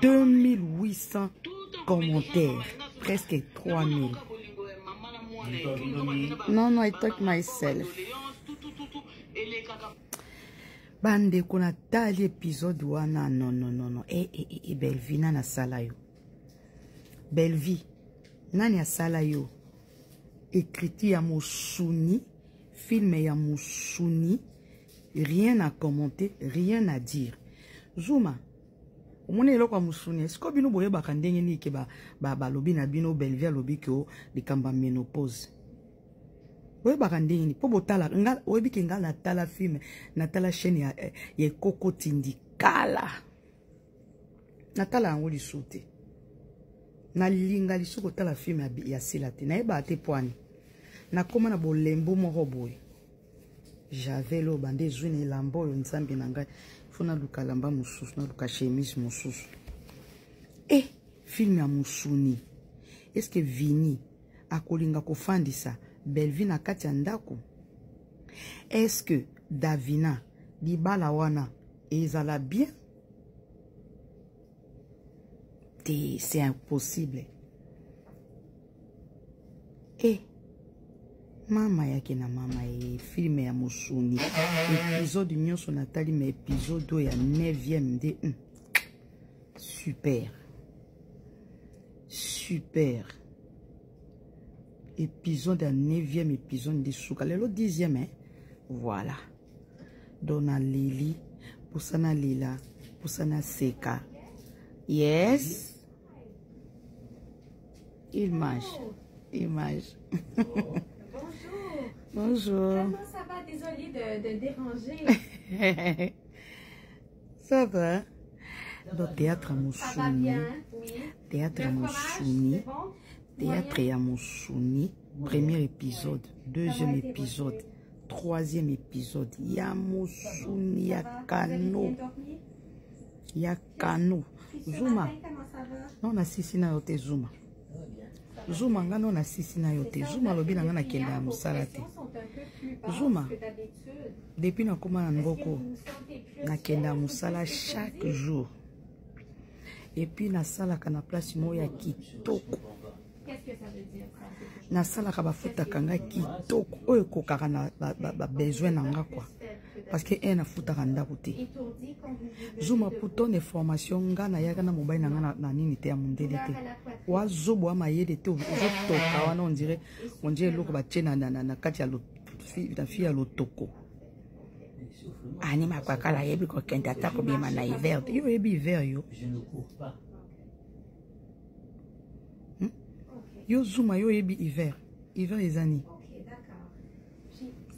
2800 commentaires, presque 3000. Non, non, I talk myself. bandeko natali épisode wana non non non non e, e, e, e bellevie nani asala yo bellevie nani asala yo ekriti ya mosuni filme ya mosuni rien à commenter rien à dire zuma omoni eloko ya mosuni esiko bino boyebaka ndenge nini ke balobi na bino belvi alobi ke likambo ya menopause boyebaka ndenge nini mpo botala oyebi ke ngai natala filme natala chaîne ya, eh, ya ekoko tindikala natala yango lisusu te nalinga lisusu kotala filme ya sila te nayebaka te pwani nakóma na bolembo moko boye javel oyo banda ezwi na elamba oyo nzambe na ngai fo naluka elamba mosusu naluka chemise mosusu e eh, filme ya mosuni eske vini akolinga kofandisa bellevie na kati ya ndako eske davina libala wana ezala bien te c'est impossible e eh, mama yake na mama ye eh, filme ya mosuni episode nyonso natali ma episode oyo ya 9e nde mm. super super episode ya 9e episode nde suka lelo 10e eh? voilà dona lili pusana lila pusana seka yes image image bonjour comment ça va désolé de, de déranger ça va donc théâtre mosuni théâtre mosuni théâtre ya mosuni premier épisode deuxième épisode troisième épisode ya mosuni ya kano ya kano zuma no nasisi na yo te zuma zuma nga no nasisi na yo te zuma alobi na nga nakende ya mosala te zuma depuis nakóma na ngoko nakende ya mosala chaque jour epuis nasalaka na place moko ya kitoko nasalaka bafutaka nga kitoko oyo ekokaka na babesoin na nga kua parce que un afutaka ndako te zuma putone formation nga nayaka na mobali na nga na nini te ya mondele te wazobo wa mayele te ozotoka wana ondire ondire eloko batie na kati ya na fille ya lotoko ani makwakala ayebi kokende ata kobima na hiver te yo oyebi hiver yo hmm? okay. yo zuma yo oyebi hiver hiver eza nini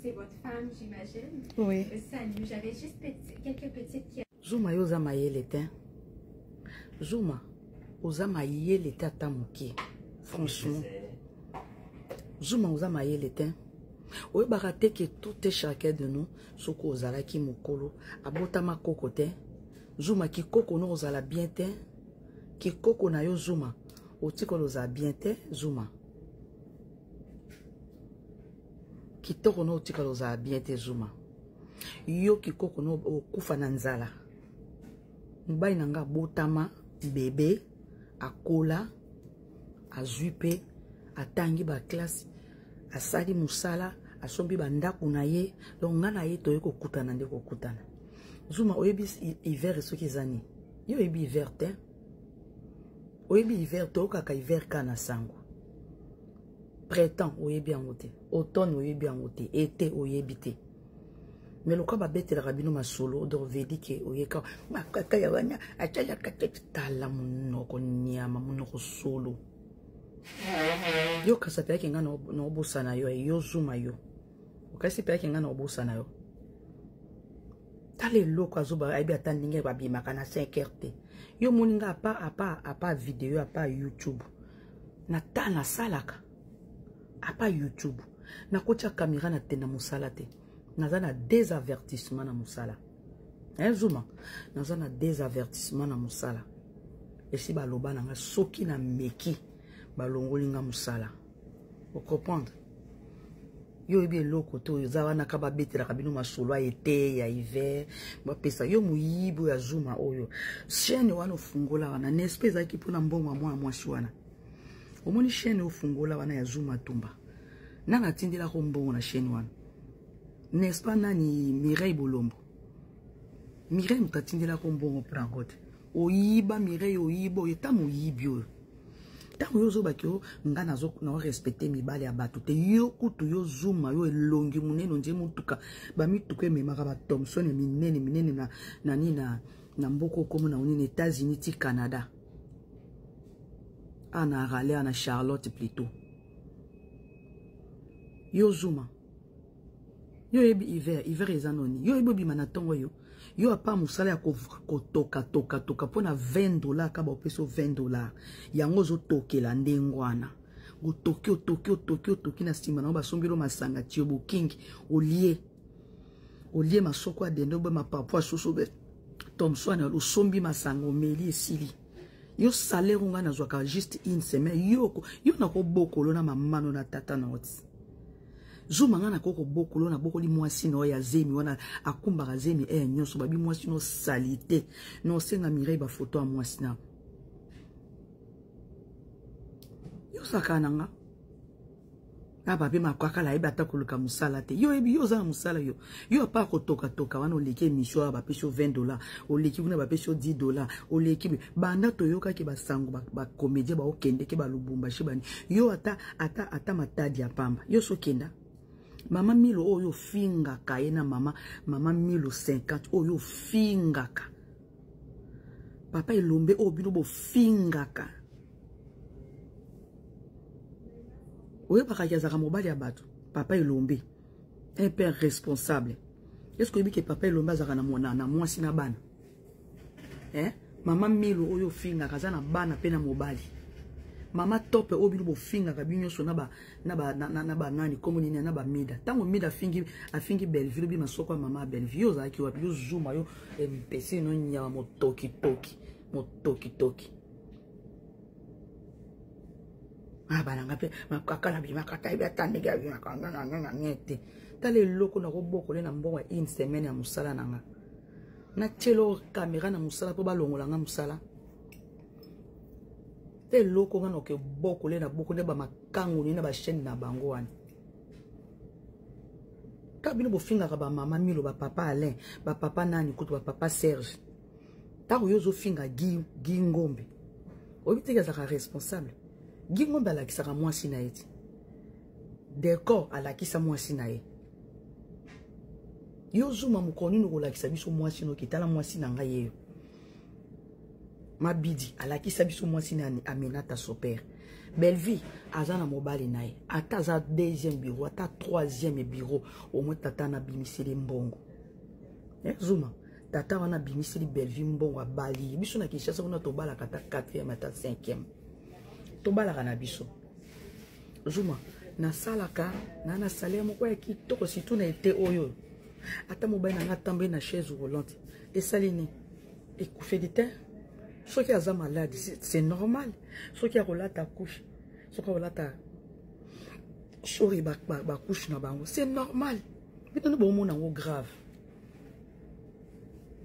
c'est votre femme, j'imagine. Oui. Euh, salut, j'avais juste petit, quelques petites questions. Zuma yo zama yelete. Hein. Zuma, ozama yelete ata moke. Franchement. Zuma ozama yelete. Hein. oyebaka te ke tout est chacun de nous soki ozalaki mokolo abotama koko te zuma kikoko no ozala bien te kikoko na yo zuma otikolo oza bien te zuma kitoko na otikala ozala bien te zuma yo kikoko na okufa na nzala mobali na ngai abotama bebe akola azwi mpe atangi baklase asali mosala asombi bandako na ye donc ngai na ye toye kokutana nde kokutana zuma oyebi hiver soki eza nini yo oyebi hiver te oyebi hiver te oyokaka hiver ka na sango printemps oyebi yango te automne oyebi yango te ete oyebi te me lokola babetelaka bino masolo donc vedi ke oyeka makaka ya wana atyalaka te tala monoko nyama monoko solo yo kasapelaki ngai naobosana yo yo zuma yo okasi mpe yake ngai na kobosana yo tala eloko azoba ayebi ata ndenge babimaka na 5 heure te yo omoni ngai apa apa apa video apa youtube na ta nasalaka apa youtube nakotya kamera na tenda mosala te naza na désavertissement na mosala eh, zuma naza na désavertissement na mosala esi baloba na ngai soki nameki balongoli ngai mosala ocomprendre yo oyebi eloko to oyo eza wana ka babetelaka bino masolo ya ete ya hiver bapesa yo moyibi oyo ya zuma oyo chaine wana ofungola wana nespe ezalaki mpona mbongo ya mwana mwasi wana omoni chaine ofungola wana ya zuma tumba nani atindelaka mbongo na chaine wana nespa nani mireille bolombo mireille moto atindelaka mbongo mpo na yango te oyiba mireille oyiba oyo eta moyibi oyo ntango yo ozobaki yo nga narespecte mibale ya bato te yo kutu yo zuma yo elongi monene ondie motuka bamituka ememaka batomson minene minene na nani na, na mboka okomo na onini états-unis ti canada ana arale ana charlotte plutôt yo zuma yo oyebi hiver hiver eza noni yo oyebi obima na ntongo yo yo apa mosala ya kotoka toka toka mpo na 20 dollar kaba opesi 20 dollar yango ozotokela ndenge wana otoki otoki otoki otoki na nsima nango basombeli masanga tiyo bokingi olie olie masoko ya dende obe mapapu asusu obe tomswane osombi masanga omeli esili yo salaire ngai nazwaka juste une semaine yoko yo nakobokolo na mamano na tata na oti zuma nga nakoki kobokolo nabokoli mwasi na yo ya zemi wana akumbaka zemi eye eh, nyonso babi mwasi no salite na osenga mirei bafoto ya mwasi na yosaka na nga na babe makakala ayebi ata koluka mosala te yo oyebi yo oza na mosala yo yo apa kotokatoka wana oleki emission oyo bapesi yo 20 dollar oleki kuna bapesi yo 10 dollar oleki banda toyokaki basango bacomédien baokendeke balubumbashi bani yo ata ata ata matadi ya pamba yo sokenda mama milo oyo ofingaka ye na mama mama milo 50 oyo ofingaka papa elombe oyo bino bofingaka oyebaka ki azalaka mobali ya bato papa elombe un père responsable est ce que oyebi ke papa elombe azalaka na mwana na mwasi na bana eh? mama milo oyo ofingaka aza na bana mpe na mobali mama tope oyo bino bofingaka bino nyonso na banani nkombo nini na bamida ntango mida afingi afingi bellevue lobi masoko ya mama ya bellevue yo ozalaki wapi yo zuma yo empese eh, no nyama motokitoki motokitoki abana ah, nga mpe makaka na bimaka ta yebi ata ndenge abimaka ngangangangange te tala eloko nakobokole na mbongo ya une semaine ya mosala na nga natyelo kamera na mosala mpo balongola nga mosala te eloko nga nakoki bokole na boko nde bamakango nini na bachaine na bango wana kaka bino bofingaka bamama milo bapapa alain bapapa nani kutu bapapa serge ntango yo ozofinga gi, gi ngombe oyebi teke azalaka responsable gi ngombe alakisaka mwasi na ye ti decor alakisa mwasi na ye yo zuma mokolo nini okolakisa biso mwasi noki tala mwasi na ngai yeyo mabidi alakisa biso mwasi na aminata sopere bellevie aza na mobali na ye ata aza deuxième bureau ata troisième bureau omoi tata na bimiseli mbongo eh, zuma tata wana abimiseli bellevue mbongo abali biso na kinshasa kuna tobalaka ata 4e ata 5e tobalaka na biso zuma nasalaka na na salaire moko ya kitoko surtout na ete oyo ata mobali na ngai atamboli na chaise roulante esali nini ekufeli te soki aza malade c'est normal soki akolata couche soki akolata sori bacouche na bango c'est normal bino nde bomona yango grave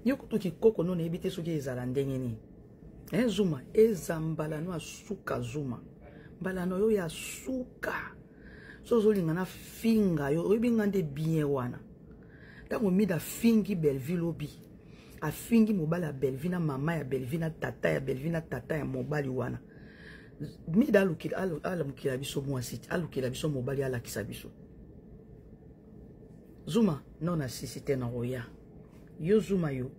yo kutu kikoko no nayebi te soki ezala ndenge nini eh, zuma eza mbala no ya suka zuma mbala no yo ya suka so ozolinga na finga yo oyebi nga nde bien wana ntango mida afingi bellevue lobi afingi mobali ya bellevue na mama ya bellevue na tata ya bellevue na tata ya mobali wana mida alamukela biso mwasi alukela biso mobali alakisa biso zuma no na sisi te na oya yo zuma yo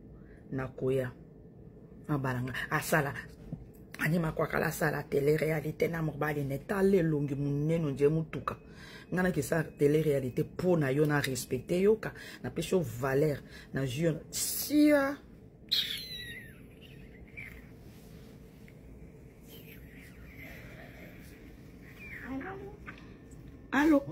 nakoya abalanga asala ani makwakala asala tele réalité na mobali na etala elongi monene ondie motuka ngai nakisa tele réalité mpo na yo na respecte yoka napesi yo valeur nazwi yo sia alo